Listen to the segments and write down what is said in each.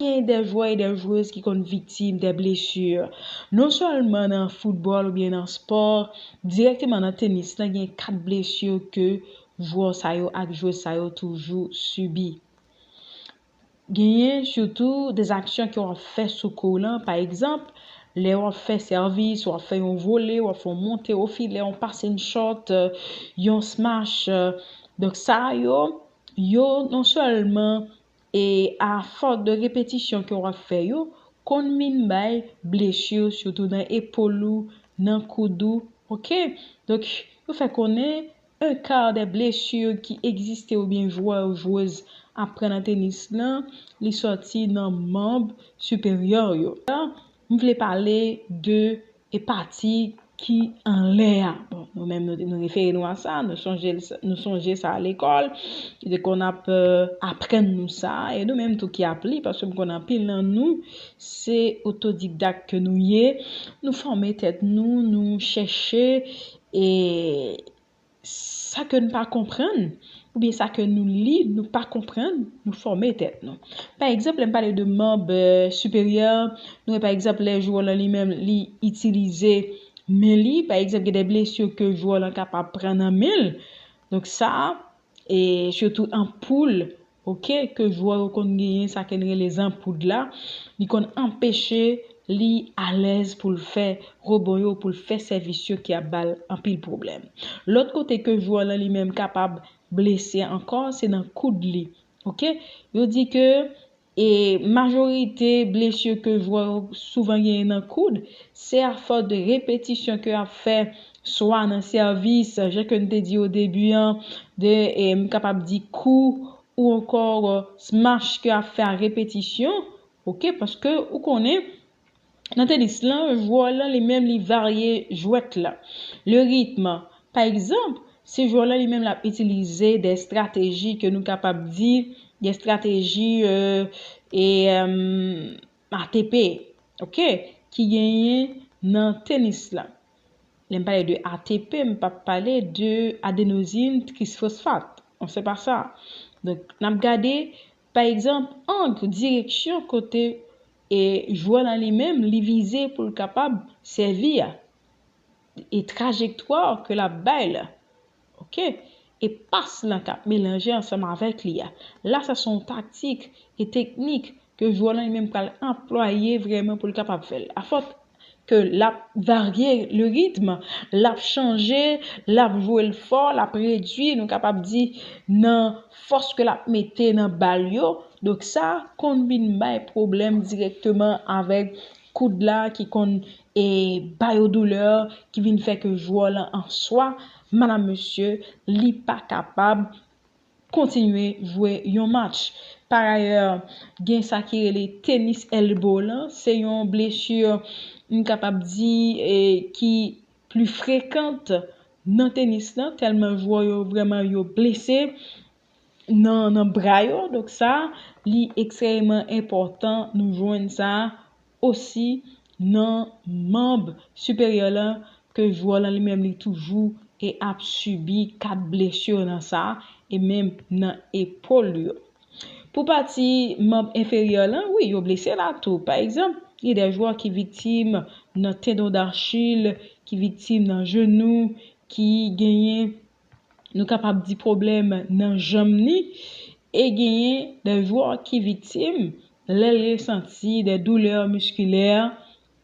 Gen de jwè e de jwez ki konn viktim de blesu, non sèlman nan foutbòl oubyen nan spò, dirèkteman nan tenis lan gen 4 blesu ke jwè sa yo ak jwez sa yo toujou sibi. Genyen sitou de aksyon ke wap fè sou kou w lan, pa egzanp, lè wap fè sèvis, wap fè yon vole, wap fè yon monte o filè, yon passing shot, yon smash, donk sa yo, yo non sèlman. E a fòs de repetisyon ke wap fè yo konn min bay blessure sitou nan epol ou nan koud ou ok donk yo fè konnen un quart des blessures ki egziste oubyen jwè ou jwez ap pran nan tenis lan li sòti nan manb siperyè yo m vle pale de E pati ki anlè a, bon, nou menm nou refere nou a sa, nou sonje sa a lekòl, lekòl nan ap aprann nou sa, e nou menm tou ki ap li, paske m konn anpil nan nou, se otodikdak ke nou ye, nou fòme tèt nou, nou chèche, e. sa ke n pa konprann, oubyen sa ke nou li nou pa konprann, nou fòme tèt nou. Pa egzanp, lè m pale de manb siperyè, nou wè pa egzanp lè jwè w lan li menm li itilize men li, pa egzanp gen de blesi ke jwè w lan kapab pran nan men l, donk sa, e sitou an poul, ok ke jwè yo konn genyen sa ken rele zanpoud la li konn anpeche li alèz poul fè rebon yo poul fè sèvis yo ki ap bal anpil pwoblèm lòt kote ke jwè lan li menm kapab blese ankò se nan koud li ok yo di ke e majorite blesir ke jwè yo souvan genyen nan koud se a fòs de repetisyon ke yap fè swa nan sèvis, jan ke n te di o debi an, de m kapab di kou ou ankò smash ke ap fè a repetisyon, ok, paske ou konnen nan tenis lan jwè lan li menm li varye jwèt la, le rythme. Pa egzanp, se jwè lan li menm l ap itilize dè estrateji ke nou kapab di dè estrateji e. ATP ok ki genyen nan tenis la. Lè m pale de ATP m pa pale de adenozin trisfosfat non se pa sa. Donk n ap gade pa egzanp ang direksyon kote e jwè la li menm li vize pou l kapab sèvi a e trajektwa ke l ap bay la. ok e pas lan kap melanje ansanm avèk li a la sa son taktik e teknik ke jwè lan li menm pral anplwaye vrèman poul kapab fèl a fòs ke lap varye le ritm lap chanje lap jwel fò lap redwi nou kapab di nan fòs ke lap mete nan bal yo donk sa konn vin bay pwoblèm dirèkteman avèk koud la ki konn e ba yo doulè ki vin fè ke jwè lan an swa, madam mesye, li pa kapab kontinye jwe yon match. Parayè, gen sa ki rele tenis elbow lan, se yon blesu m kapab di ki pli frekant nan tenis lan, tèlman jwè yo vrèman yo blese. nan bra yo donk sa li ekstrèeman enpòtan nou jwenn sa osi nan manb siperyè la ke jwè lan li menm li toujou e ap sibi 4 blesur nan sa e menm nan epol li yo pou pati manb enferyè lan wi yo blese la tou pa egzanp gen de jwè ki viktim nan tendon dachil ki viktim nan jenou ki genyen. Nou kapab di pwoblèm nan janm ni e genyen de jwè ki viktim lè l resanti de doulè miskilè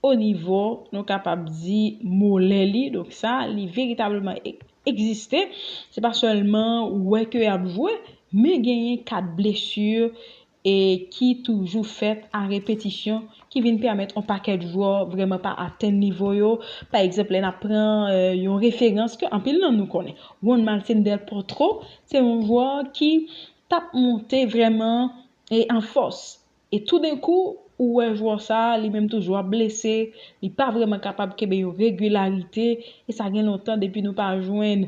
o nivo nou kapab di molè li donk sa li veritableman egziste se pa sèlman wè ke y ap jwe men genyen ka blesi e ki toujou fèt a repetisyon ki vin pèmèt on pakèt jwè vrèman pa atenn nivo yo, pa egzanp lè nap pran yon referans ke anpil nan nou konnen, Juan Martin del Potro se yon jwè ki tap monte vrèman e an fòs e toudenkou ou wè jwè sa li menm tou jwè ap blese, li pa vrèman kapab kenbe yon regilarite e sa gen lontan depi nou pa jwenn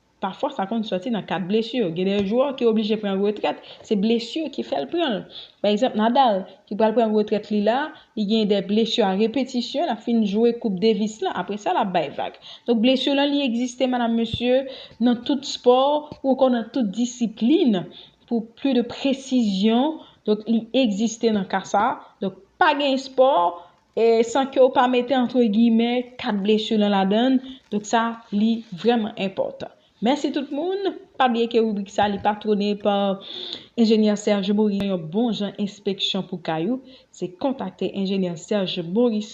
Pafwa sa konn sòti nan kad blesi. Gen de jwè ki oblije pran retrèt, se blesi ki fè l pran l. Pa egzanp Nadal ki pral pran retrèt li la, li gen de blesi a repetisyon, l ap fin jwe koup Davis lan, apre sa l ap bay vag. Donk blesi lan li egziste madam mesye nan tout spò ou ankò nan tout disiplin. Pou pli de presizyon, donk li egziste nan ka sa. Donk pa gen espò e san ke ou pa mete antre giyimè kat blesur lan ladann donk sa li vrèman enpòtan mèsi tout moun pa bliye ke ribrik sa li patwone pa enjenyè Serge Morissaint yon bon jan enspeksyon pou kay ou se kontakte enjenyè Serge Morissaint.